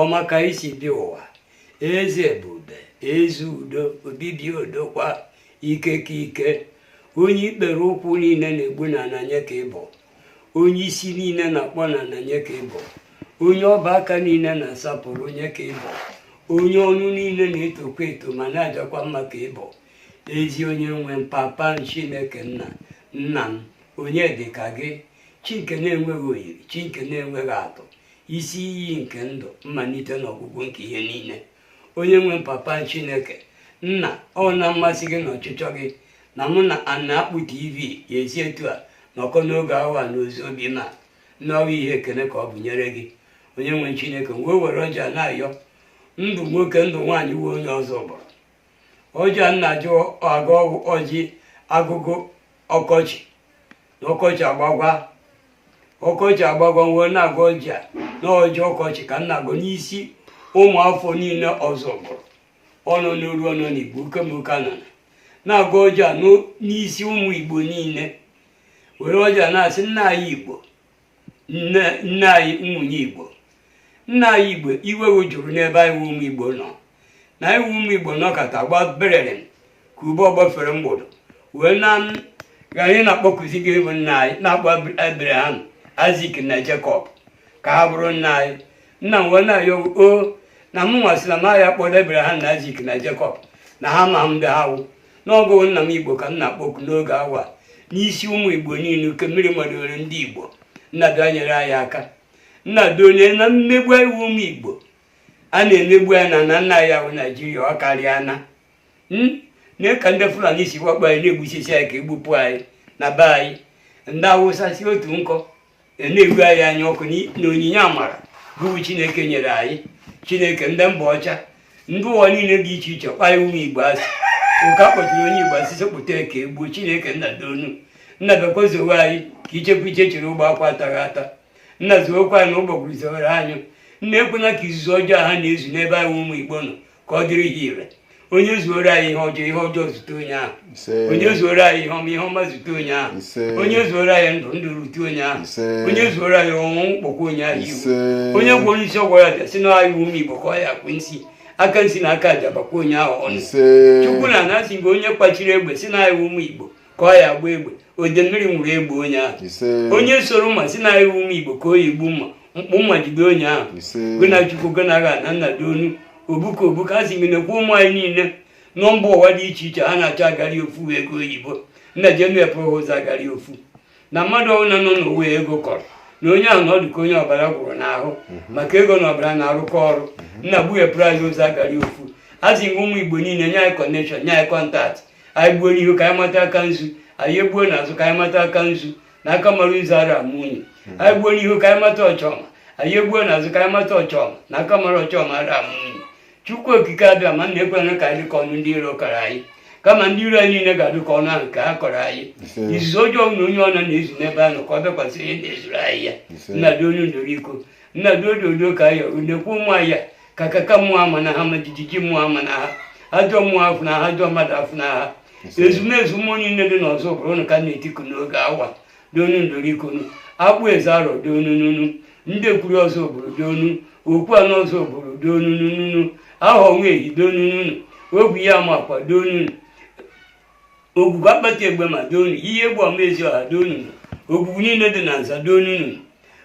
ọma ka isi bi ụwa eze ebube eze udo obibi odokwa ike ka ike onye ikpere ụkwụ niile na-egbu n'ana nye ka ị bụ onye isi niile na-akpọ n'ana nye ka ị bụ onye ọba aka niile na-asapụrụ nye ka ị bụ onye ọnụ niile na-etokwa eto ma na-ajakwa mma ka ị bụ ezi onye nwe m papa m chineke nna nna m onye dị ka gị chi nke na-enweghị oyiri chi nke na-enweghị atụ isi iyi nke ndụ mmalite na ọgwụgwụ nke ihe niile onye nwe papa chineke nna ọ na mmasị gị na ọchịchọ gị na mụ na ana akpụ tv ya-esi etu a nọkọ n'oge awa na ozi obi ma n'ọha ihe ekene ka ọ bụ nyere gị onye nwe chineke wee were ọjị a na-ayọ ndụ nwoke ndụ nwaanyị wee onye ọzọ bụrụ ọjị a nna jụọ agụ ọjị agụgụ ọkọchị n'ọkọchị agbagwa ọkọchị agbagwa wee na-agọ ọjị a na ọjị ọkọchị ka m na-agọ n'isi ụmụ afọ niile ọzọ bụrụ ọ nọ n'oru ọ nọ na igbo okemoka na na-agọ ọjị n'isi ụmụ igbo niile were ọjị a na-asị nna anyị igbo nne anyị nwunye igbo nna anyị igbo iwe jụrụ n'ebe anyị wụ ụmụ igbo nọ na anyị wụ ụmụ igbo nọkata gba berere ka ube ọ gbafere mgbọdụ wee na anyị na-akpọkuzi gị bụ nna anyị na-akpọ abraham aịzik na jekọb ka ha bụrụ nna anyị nna m wee na-ayọ o na m nwasịla m anya kpọrọ abraham na aịzik na jekọb na ha ma m ndị ha wụ n'ọ gụ nna m igbo ka m na-akpọku n'oge awa n'isi ụmụ igbo niile oke mmiri madoro ndị igbo nna doo nyere anyị aka nna doo nee na mmegbu anyị wụ ụmụ igbo a na-emegbu anyị na na nna ya bụ naijiria ọ karịana hmm? nee ka ndị fulani si wakpo anyị na-egbusisi anyị ka e gbupụ anyị na be anyị ndị awụsa si otu nkọ na-egbu anyị anya ọkụ na onyinye amara bụ Chineke nyere anyị Chineke ndị mba ọcha ndị ụwa niile dị iche iche kpọọ anyị ụmụ igbo asị ụka kpọtụrụ onye igbo a sị sekpụta ka e gbuo chineke nna doonu nna biko zowe anyị ka ichekwa iche chere ogbe akwụ ataghị ata nna zookwa anyị na ụgbọgụrụ zowere anyụ nna ekwena ka izuzu ọjọọ ha na-ezu n'ebe anyị ụmụ igbo nọ ka ọ dịrị ha ire onye zuoro anyị ihe ọjọọ ihe ọjọọ zute onye ahụ onye zuoro anyị ihe ọma ihe ọma zute onye ahụ onye zuoro anyị ndụ ndụ rute onye ahụ onye zuoro anyị ọnwụ kpọkwa onye ahụ ihu onye gwọ nsi gwọọ aja sị na anyị wụ ụmụ igbo ka ọ ya-akọ nsi aka nsi na aka aja bakwa onye ahụ ọnụ chukwu nna asị m gị onye kwachiri egbe sị na anyị wụ ụmụ igbo ka ọ ya-agba egbe ode mmiri nwụrụ egbe onye ahụ onye sụrụ mma sị na anyị wụ ụmụ igbo ka ọ ya-egbu mma mkpụ mma jide onye ahụ gona chukwu gona agha na nna doonu obuka obuka a sị gị nekwa ụmụ anyị niile nọ mba ụwa dị iche iche ha na-achọ agari ofu ego oyibo nna je mepụrụ ụzọ agari ofu na mmadụ ọbụla nọ n'ụwa ego kọrọ nna onye ahụ na ọ dịka onye ọbara gwụrụ n'ahụ mhm. maka ego na ọbara na-arụkọ ọrụ mhm. nna gbughepụrụ anyị ụzọ agarị ofu azị nwe ụmụ igbo niile nye anyị connection nye anyị contact anyị gbuo n'ihu ka anyị mata aka nzu anyị egbuo n'azụ ka anyị mata aka nzu na aka mara nzu ara ama unyi mhm. anyị gbuo n'ihu ka anyị mata ọchọma anyị egbuo n'azụ ka anyị mata ọchọma na aka mara ọchọma ara ama unyi chukwu okike abịama nna ekwena ka anyị dịka ọnụ ndị iro kọrọ anyị kama ndị iro anyị niile ga-adị ka ọnụ ahụ nke ha kọrọ anyị izuzu ọjọọ na onye ọbụla na-ezu n'ebe ahụ ka ọ bịakwasị ihe na-ezuru anyị ya nna donu ndoro iko nna dị odo odo ka ya na-ekwu ụmụ ya ka kaka mmụọ ama na ha ma jijiji mmụọ ama na ha ajọ mmụọ afụna ha ajọ mmadụ afụna ha ezumezu mmụọ niile dị n'ọzụbụlụ nna ka na-etiku n'oge awa donu ndorikonu akpụ eze arọ donununu ndekwuru ọzụbụlụ donu okwu anọ ọzụbụlụ donununu ahọ nwa ehi donununu ogwu ya amakwa donunu ogwugwu akpata egbema donu iyi egbu ọma eziọha donunu ogwugwu niile dị na nza donunu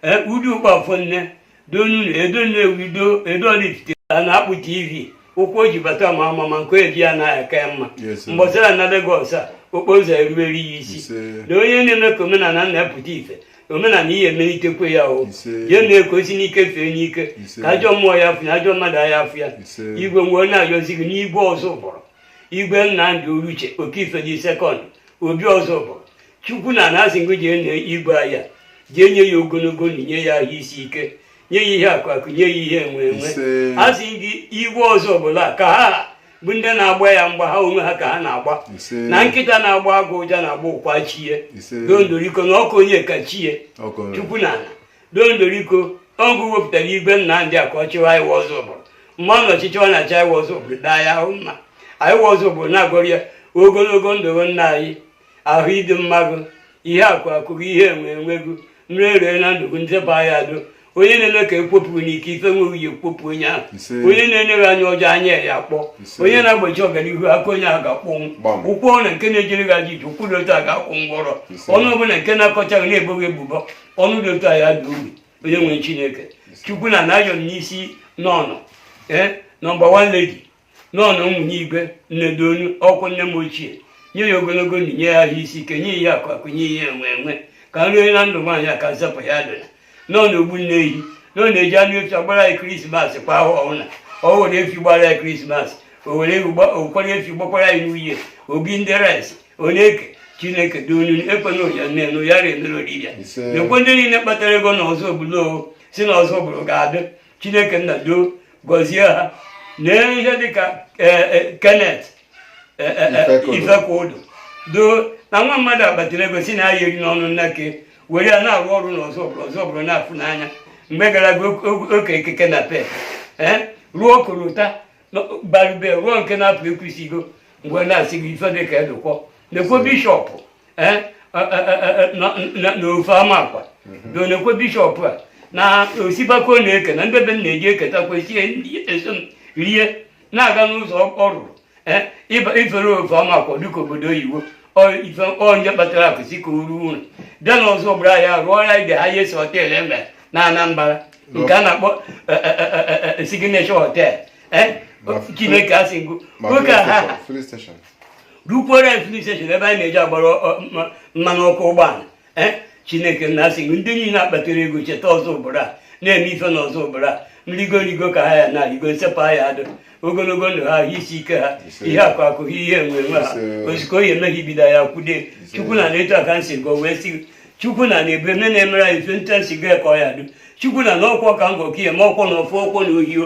ee udu ụkpafọ nne donunu edo nnewi do edo ọraifite a na-akpụ tv ụkwụ o ji bata mara mma nke eji ya ana ya ka ya mma Yes, sir. mgbọsị ọ ya-ana legos a okporo ụzọ eruwere ya isi Ise. na onye na-eme ka omenala na-epụta ife omenala ihe emelitekwe ya o Ise. ya mee ka o si n'ike fee n'ike Ise. ka ajọ mmụọ ya afụ ya ajọ mmadụ ya afụ ya Ise. igwe nwe anyị ayọzi gị n'igwe ọzụbụlụ igwe nnamdi oruche okeife the second obi ọzụbụlụ chukwu nna na-asị ngụ jee na igwe anyị a jee nye ya ogologo ndụ nye ya ahụ isi ike nye ya ihe akụ akụ nye ya ihe enwe enwe asị gị igwe ọzụbụlụ ka ha bụ ndị na-agba ya mgba ha onwe ha ka ha na-agba na nkịta na-agbọ agụ ụja na-agba ụkwa chie dondoriko na ọkụ onye ka chie chukwu nna dondoriko ọ gụ wepụtara igwe nnamdi a ka ọ chịwa anyị wụ ọzụbụlụ mana ọchịchị ọ na-achị anyị wụ ọzụbụlụ daa ya ahụ mma anyị wụ ọzụbụlụ na-agọrọ ya ogologo ndụ nna anyị ahụ ịdị mma gụ ihe akụ akụ gị ihe enwe enwe gụ nrịanrịa na ndụ gị m zapụ ya do onye na-eme ka ekwopụ n'ike ife nwe anyị ekwopụ onye ahụ Ise. onye na-ene gị anya ọjọọ anya ya akpọ Ise. onye na-agbachi ọganihu aka onye ahụ ga-akpọnwụ Gbam. ụkwụ ọbụla nke na-ejere gị ajọ ije ụkwụ dị otu a ga-akụ ngwọrọ Ise. ọnụ ọbụla nke na-akọcha gị na-ebo gị ebubo ọnụ dị otu a ya da ogbi onye nwere chineke chukwu nna na-ayọ m n'isi nọnọ ee number one lady nọnọ nwunye igwe nne donu ọkwụ nne m ochie nye ya ogologo ndụ nye ya ahụ isi ike nye ihe akụ akụ nye ihe enwe enwe ka nrịanrịa na ndụ nwaanyị a ka m zapụ ya dịla nọnọ ogbu nne ehi na ọ na-eji anụ efi agbara ya krismas kwa ahọ ọbụla ọ were efi gbara ya krismas o were ụkwara efi gbakwara ya new year ọ bụ ndị rice ọ na-eke chineke donu ekwena ụya nne na ụya na-emere oribịa na-ekwe ndị niile kpatara ego na ọzụbụlụ sị na ọzụbụlụ ga-adị chineke nna doo gọzie ha n'ihe dịka e, e, Kenneth e, Ifekwudu doo na nwa mmadụ akpatara ego si na ya eri n'ọnụ nnake were ya na-arụ ọrụ n'Ọzụ Ọzụbụrụ na-afụ n'anya mgbe gara aga oke ekeke na pe rụọ korota barube rụọ nke na-apụ Ekwusigo mgbe na-asị gị ife dịka edụkwọ na-ekwo Bishop n'Ofe Amakwa doo nekwe Bishop a na osipaka ọ na-eke na ndị be m na-eji eketakwa sie eso m rie na-aga n'ụzọ ọ rụrụ ifere Ofe Amakwa dịka obodo oyibo ife onye kpatara akụ sị ka o ruo ụlọ bịa n'Ọzụbụrụ ya rụọ ya the highest hotel e nwere na Anambra nke a na-akpọ Signature Hotel Chineke asị m gụ oke ha rụkwere filling station ebe anyị na-eji agbara mmanụ ọkụ ụgbọala eh? Chineke nna asị ndị niile akpatara ego cheta Ọzụbụrụ a na-eme ife na Ọzụbụrụ a nrigorigo ka ha ya na-arigo nsepụ ha ya adụ ogologo ndụ ha isi ike ha ihe akụ akụ ha ihe enwe enwe ha ozugbo oyi emeghị ibido ya kwude Chukwu nna etu a ka m si gọ wee sị Chukwu nna na ebe nne na-emere anyị ife nta m si gọ ka ọ ya dụ Chukwu nna ọkwọ ka m gọ ka ihe ma ọkwọ na ọfụ ọkwọ na ohio